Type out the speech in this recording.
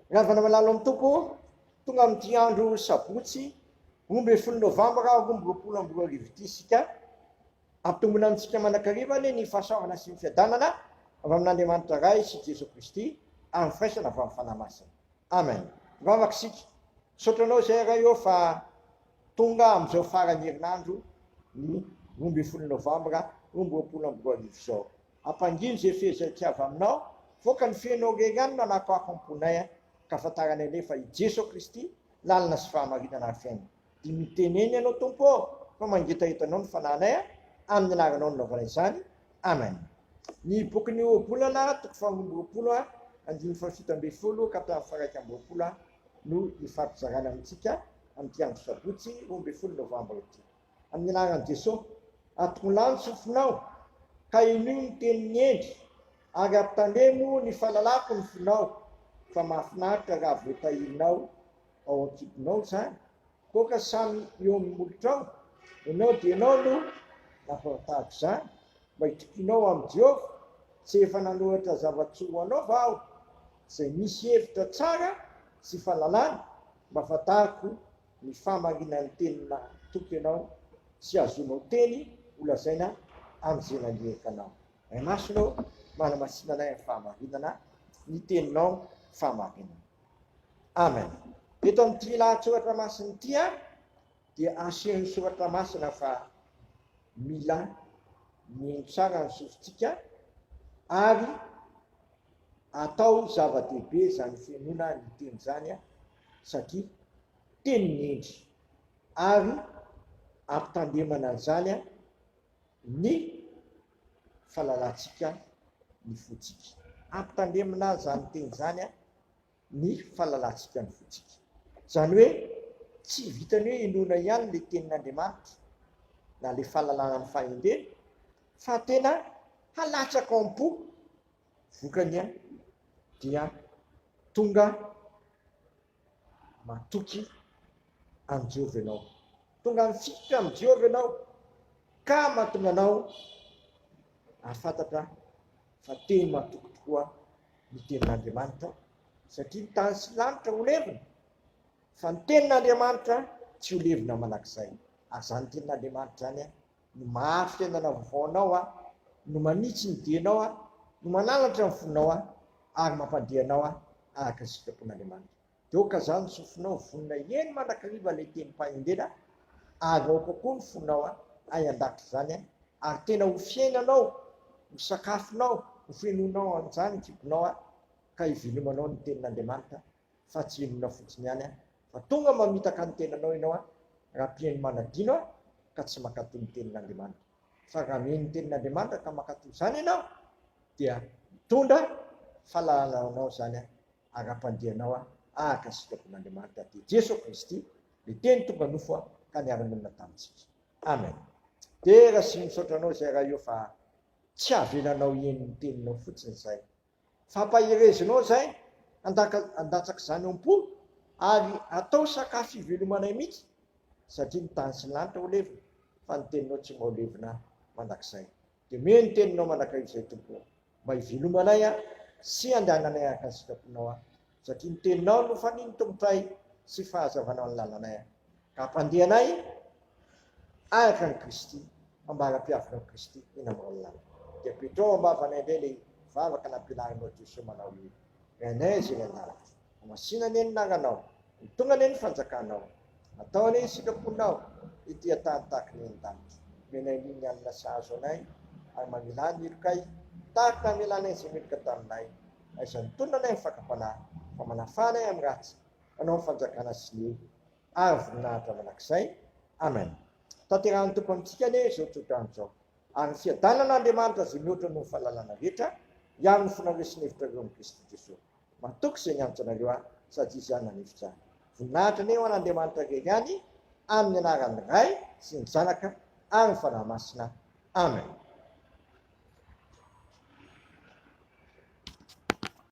Ravana malalo amin'ny Tompo, tonga amin'ity andro sabotsy roa ambin'ny folo novambra roa amby roapolo amby roa arivo ity isika. Ampitombina amintsika manankarivany ny fahasoavana sy ny fiadanana avy amin'Andriamanitra Ray sy Jeso Kristy ary ny firaisana avy amin'ny Fanahy Masina. Amen. Mivavaka isika. Misaotra Anao izay Ray ô fa tonga amin'izao faran'ny herinandro ny roa ambin'ny folo novambra roa amby roapolo amby roa arivo izao. Ampangino ze fehezay tiava aminao Voaka ny fenao rery any Manako afo amponay an Ka fantaranay lefa i Jeso Kristy Lalana sy fahamarinana ary fiainana Dimy miteny eny ianao Tompo ô Fa mangetaheta anao ny fanahinay an Amin' ny anaranao nilaovana izany Amen. Ny bokin'ny Ohabolana, toko faharoa amby roapolo a, andininy fahafito ambin'ny folo ka hatramin'ny faha-iraika amby roapolo a, no ifampizarana amintsika amin'ity andro sabotsy roa ambin'ny folo novambra ity. amin'ny anaran'i Jesosy, atongilano ny sofinao, kahenio ny tenin'i Hendry, ary ampitamemo ny fahalalako ny fonao, fa mahafinaritra raha voatahirinao ao an-kitonao izany, koa ka samy eo amin'ny molotrao, ianao dia ianao no nampahafantaro izany, mba hitokianao amin'i Jehovah, tsy efa nanoratra zava-tsoa ho anao va aho, izay misy hevitra tsara sy fahalalana, mba fantariko ny fahamarinan'ny teny nahatoky anao sy azonao teny holazaina amin'izay naniraka anao. Ray Masina ô, manamasina anay amin'ny fahamarinana ny Teninao fahamarinana. Amen. Eto amin'ity lahatsoratra masina ity dia asehon'ny soratra masina fa mila mino tsara ny sofintsika ary atao zava-dehibe izany fenona ny teny izany. satria teny ny hendry ary ampitandemana an'izany ny fahalalantsika ny fontsika. Ampitandemina izany teny izany ny fahalalantsika ny fontsika. Izany hoe tsy vitan'ny hoe inoana ihany ilay tenin'Andriamanitra na ilay fahalalana ny fahendreny fa tena halatsaka ao am-po vokany dia tonga matoky an'i Jehovah ianao, tonga mifikitra amin'i Jehovah ianao, ka mahatonga anao hahafantatra fa teny matoky tokoa ny tenin'Andriamanitra, satria ny tany sy ny lanitra ho levona, fa ny tenin'Andriamanitra tsy ho levona mandrakizay. Ary izany tenin'Andriamanitra izany no mahary fiainana vaovao anao aho, no manitsy ny dianao aho, no mananatra ny fonao aho, ary mampandeha anao aho araka ny sitrapon'Andriamanitra. Dia aoka izany ny sofinao vonona hihaino mandrakariva ilay tenim-pahendrena, ary aoka koa ny fonao hay handakitra izany, ary tena ho fiainanao, ho sakafonao, ho fenoinao an'izany ny kibonao, ka hivenomanao ny tenin'Andriamanitra fa tsy inona fotsiny ihany an, fa tonga mamitaka ny tenanao ianao an, raha mpihaino manadino an, ka tsy mankatoa ny tenin'Andriamanitra. Fa raha mihaino ny tenin'Andriamanitra ka mankatoa izany ianao, dia mitondra fahalalana ho anao izany an, ara-pandehanao an, araka ny sitrapon'Andriamanitra dia Jeso Kristy, ilay Teny tonga nofo an, ka niara-nonina tamintsika. Amen. Dera sy misaotra anao izay Ray o, fa tsy avelanao hihaino ny teninao fotsiny izay, Fampaherezinao izay handatsak'izany ao am-po ary hatao sakafo ivelomanay mihitsy satria ny tany sy ny lanitra ho levona fa ny teninao tsy mba levona mandrakizay. Dia miha ny teninao mandrakizay Tompo o! Mba hivelomanay sy handehananay araka ny sitraponao aho. Satria ny teninao no fanin'ny Tompotray sy fahazavanao ny lalanay, ka hampandeha anay araka an'i Kristy, ambara-piavinao an'i Kristy eny amin'ny raolinany. Dia apetraho am-bavanay indray ilay vavaka nampianarinao Jesoa manao hoe, Rainay izay eny an-danitra, hamasina anie ny naranao, ho tonga anie ny fanjakanao, atao anie ny sitraponao ety an-tany tahaka ny eny an-danitra. Omenay aloha ny hanina sahazo anay, ary mamela ny helokay tahaka ny namelanay izay meloka taminay, Aiza ny tolona anay ny fakam-panahy, fa manafà anay amin'ny ratsy, manao ny fanjakana sy ny ary ny voninahitra mandrakizay. Amen. Tanterahin'ny Tompo amintsika anie izao tsodrano izao. Ary ny fiadanan'Andriamanitra izay mihoatra noho ny fahalalana rehetra, hiaro ny fonareo sy ny hevitrareo amin'i Kristy Jesoa. Matoky izay niantoka anareo ahy, sady Izy ihany nanefitra ahy. Voninahitra anie ho an'Andriamanitra irery ihany, amin'ny anaran'ny Ray sy ny Zanaka ary ny Fanahy Masina. Amen.